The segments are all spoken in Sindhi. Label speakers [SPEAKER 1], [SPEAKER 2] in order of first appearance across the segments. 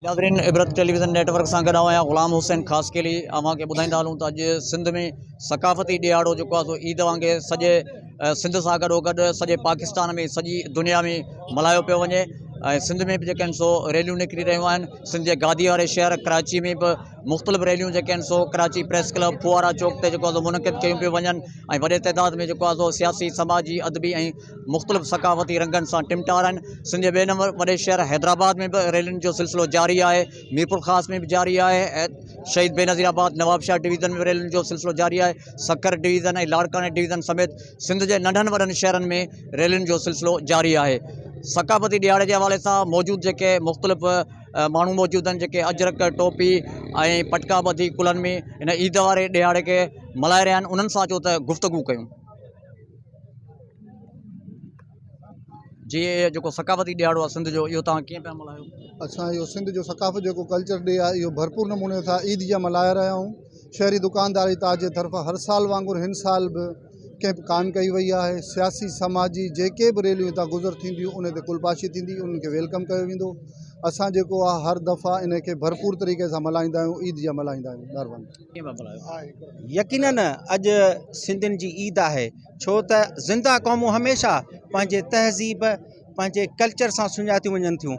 [SPEAKER 1] ناظرين عبرت ٽيليويزن نيٽ ورڪ سان گڏ آهيان غلام حسين خاص کيلي اوهان کي ٻڌائيندا هلون ته اڄ سنڌ ۾ ثقافتي ڏيهاڙو جيڪو آهي سو عيد وانگي سڄي سنڌ سان گڏو گڏ سڄي پاڪستان ۾ سڄي دنيا ۾ ملهايو پيو وڃي سنڌ ۾ به جيڪا آهن سو ريليون نڪري رهيون آهن سنڌ جي گادي واري شهر ڪراچي ۾ به مختلف ريليون جيڪي آهن سو ڪراچي پريس ڪلب فوارا چوڪ تي جيڪو آهي منعقد ڪيون پيون وڃن ۽ وڏي تعداد ۾ جيڪو آهي سياسي سماجي ادبي ۽ مختلف ثقافتي رنگن سان ٽمٽار آهن سنڌ جي ٻئي نمبر وڏي شهر حيدرآباد ۾ به ريلين جو سلسلو جاري آهي ميرپور خاص ۾ به جاري آهي شهيد بي نظير آباد نواب شاهه ڊويزن ۾ ريلين جو سلسلو جاري آهي سکر ڊويزن ۽ لاڙڪاڻي ڊويزن سميت سنڌ جي ننڍن وڏن شهرن ۾ ريلين جو سلسلو جاري آهي ثقافتي ڏهاڙي جي حوالي سان موجود جيڪي مختلف ماڻهو موجود آهن جيڪي اجرڪ ٽوپي ۽ پٽڪا ٻڌي ڪلهن ۾ هن عيد واري ڏهاڙي کي ملهائي رهيا آهن انهن سان اچو ته گفتگو ڪيون جي اهي جيڪو ثقافتي ڏهاڙو آهي سنڌ جو اهو توهان ڪيئن پيا ملهايو اسان اهو سنڌ جو
[SPEAKER 2] ثقافت جيڪو ڪلچر ڊي آهي اهو ڀرپور نموني سان عيد جيان ملهائي رهيا آهيون شهري دڪانداري تاج جي طرفان هر سال وانگر هن سال به ڪئمپ ڪانه ڪئي وئي آهي سياسي سماجي جيڪي به ريليون هتان گذر ٿينديون ان تي ڪلپاشي ٿيندي انهن کي ويلڪم ڪيو ويندو اسان جيڪو آهي هر دفعا ان کي ڀرپور طريقي سان ملهائيندا آهيون عيد جا ملهائيندا آهيون مهرباني يقينن
[SPEAKER 3] اڄ سنڌين جي عيد آهي ڇو ته زنده قومون هميشه پنهنجي تهذيب پنهنجي ڪلچر سان سڃاتيون وڃن ٿيون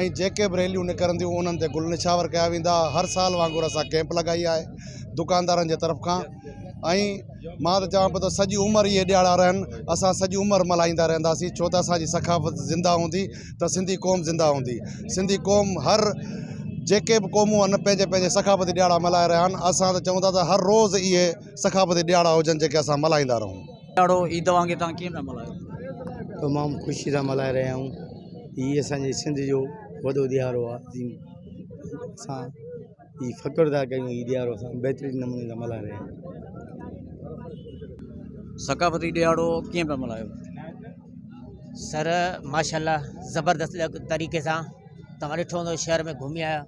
[SPEAKER 4] ۽ جيڪي به ريليون نڪرنديون انهن تي گل نشاور ڪيا ويندا هر سال وانگر اسان ڪيمپ لڳائي آهي دڪاندارن جي طرف کان ۽ مان ته چوان پيو ته سڄي عمر اهي ڏياڙا رهن اسان سڄي عمر ملهائيندا رهنداسين ڇو ته اسانجي ثقافت زنده هوندي ته سنڌي قوم زنده هوندي سنڌي قوم هر جيڪي به قومون آهن پنهنجي پنهنجي ثقافتي ڏياڙا ملهائي رهيا آهن اسان ته چون ٿا ته هر روز اهي ثقافتي ڏياڙا هجن جيڪي اسان ملهائيندا رهون ڏهاڙو عيد وانگي
[SPEAKER 1] توهان ڪيئن پيا ملهايو؟ تمام
[SPEAKER 5] خوشي سان ملهائي رهيا آهيون هي اسان جي سنڌ جو وڏو ڏهاڙو آهي جن اسان هي فخر ٿا ڪيون هي ڏهاڙو اسان بهترين نموني سان ملهائي رهيا آهيون
[SPEAKER 1] ثقافتي ڏهاڙو ڪيئن پيا ملهايو؟
[SPEAKER 6] سر ماشاء الله زبردست طريقي سان تواں ڏٺو هوندو شهر ۾ گهمي آيا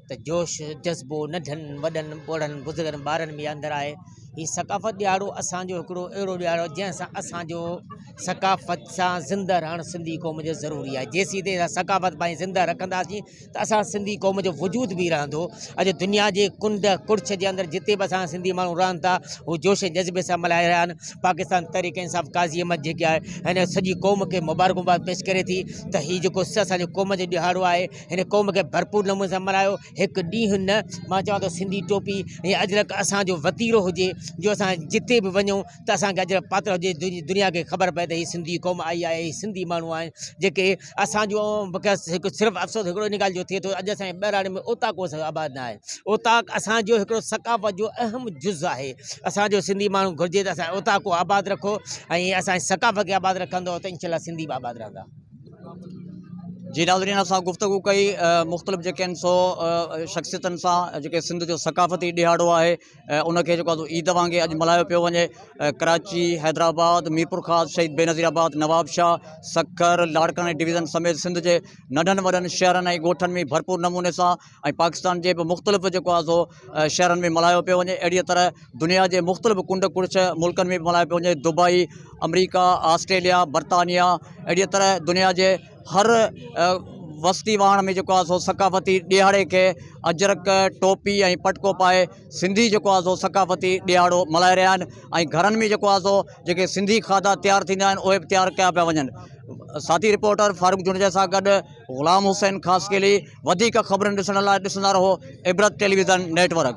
[SPEAKER 6] ته جوش جذبو ننڍن وڏن ٻوڙن بزرگن ٻارن ۾ اندر آهي هي ثقافت ڏيارو اسانجو هڪڙو اهڙو ڏيارو آهي جنهن سان اسانجو ثقافت سان زنده رهڻ سنڌي قوم جو ضروري آهي جيسين تائين اسان ثقافت پنهنجي زنده رکنداسين ته اسان سنڌي قوم جو وجود به رهندو اڄ دنيا جي ڪنڊ ڪڙڇ جي اندر جتي به اسان سنڌي ماڻهو رهن ٿا هو جوش ۽ جذبي سان ملهائي رهيا آهن پاڪستان تحريڪ انصاف قاضي احمد جيڪي آهي هن سڄي قوم کي مبارڪباد پيش ڪري ٿي ته هي جيڪو اسانجو قوم جو ڏهاڙو آهي هن قوم کي ڀرپور نموني سان ملهايو هڪ ڏينهن نه مان چوان ٿو سنڌي ٽوپي ۽ اجرڪ اسان جو وتيرو هجي جو اسان جتي به وڃون ته اسان کي اجرڪ پاتل هجي دنيا کي خبر پئي ته هي سنڌي قوم آئي آهي هي سنڌي ماڻهو آهن جيڪي اسان جو مونکي هڪ صرف افسوس هڪڙو ان ڳالهه جو ٿئي ٿو اڄ اسان جي ٻهراڙي ۾ اوطاق ڪو آباد نه آهي اوطاق اسان جو هڪڙو ثقافت جو اهم جز آهي اسان جو سنڌي ماڻهو گهرجي ته اسان اوطاق ڪو آباد رکو ۽ اسان جي ثقافت کي آباد رکندو ته انشاء الله سنڌي به آباد رهندا
[SPEAKER 1] جي ناظرين اسان گفتگو ڪئي مختلف جيڪي آهن سو شخصيتن سان جيڪي سنڌ جو ثقافتي ڏيهاڙو آهي ان کي جيڪو آهي عيد وانگي اڄ ملهايو پيو وڃي ڪراچي حيدرآباد ميرپورخاص شهيد بي نظير آباد نواب شاهه سکر لاڙڪاڻي ڊويزن سميت سنڌ جي ننڍن وڏن شهرن ۽ ڳوٺن ۾ ڀرپور نموني سان ۽ پاڪستان جي به مختلف جيڪو آهي سو شهرن ۾ ملهايو پيو وڃي اهڙيء طرح دنيا جي مختلف ڪنڊ ڪڙڇ ملڪن ۾ به ملهايو پيو وڃي دبئي آمريڪا آسٽريليا برطانيا اهڙيء طرح دنيا جي هر وستي واهڻ ۾ جيڪو آهي سو ثقافتي ڏيهاڙي کي اجرڪ ٽوپي ۽ پٽڪو پائي سنڌي جيڪو آهي سو ثقافتي ڏيهاڙو ملهائي رهيا آهن ۽ گهرن ۾ جيڪو آهي سو جيڪي سنڌي کاڌا تيار ٿيندا آهن اهي به تيار ڪيا پيا وڃن ساٿي رپورٽر فاروق جوڻيجا سان گڏ غلام حسين خاصخيلي وڌيڪ خبرن ڏسڻ لاء ڏسندا رهو عبرت ٽيليويزن نيٽ ورڪ.